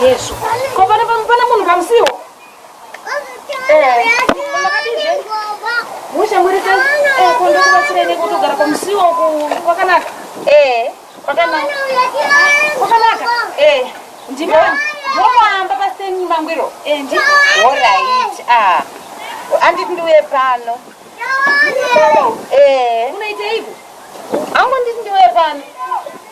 Yesu. Ko pana pana munhu pamusiwo. Eh. Musha muri tan. Eh ko ndo kubatsira ne kutogara pamusiwo ku kwakanaka. Eh. Kwakanaka. Kwakanaka. Eh. Ndimo. Mwaamba paseni mangwiro. Eh ndi. All right. Ah. Andi ndiwe pano. Eh. Unaiteiko? Angu ndi ndiwe pano.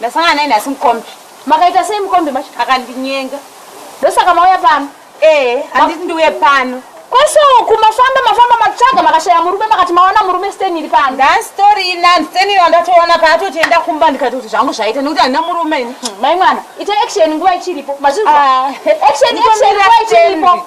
Ndasangana naye nhasi mukombi. Makaita sei mukombi macho? Akandinyenga. Ndosaka mauya pano? Eh, handiti ndiuye pano. Kwese uku mafamba mafamba matsvaga makashaya murume makati maona murume Sten iri pano. Ndani story inani Sten iri ndatoona paatoti enda kumba ndikati kuti zvangu zvaita nekuti handina murume ini. Hmm, mai mwana, ita action nguva ichiripo. Mazvinzwa? Ah. Action action nguva ichiripo.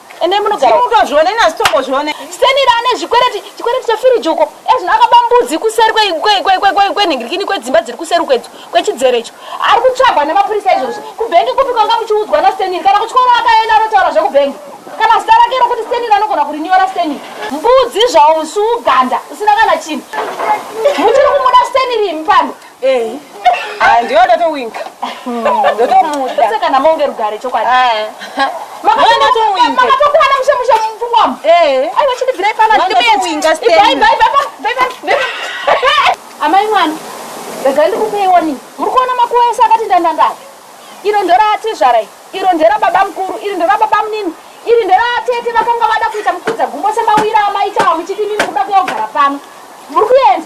ende munogara mutozvione ina sitombozvione stenira ane zvikwereti chikwereti chefiriji uko ezvino akaba mbudzi kuseri kwenhingirikini kwedzimba dziri kuseri kwedzo kwechidzero icho ari kutsvagwa nemapurisa izvozvi kubhengi kupi kwanga muchiudzwa nasteniri kana kutyora akaenda anotaura zvekubhengi kana zita rake rokuti steniri anogona kurinyora steniri mbudzi zvawo musi uganda usina kana chinhu muchiri kumuda steniri imi pano Ehi. Ah, ndiyo ndatowinka. Ndotomuda. Saka kana monge rugare chokwadi. Ah. Makatowinka. Makatokwana mushe mushe mumfungo wam. Eh. Ai wachindibvira ipana ndimbe. Makatowinka stay. Bye bye bye bye bye. Amai mwana. Rega ndikupe iwoni. Muri kuona makuwa ese akati ndandanda. Iro ndora atizvara iri. Iro ndera baba mkuru, iri ndera baba mnini. Iri ndera atete vakanga vada kuita mukudza gumbo semawira amai chawa muchiti mimi kuda kuyogara pano. Muri kuenda.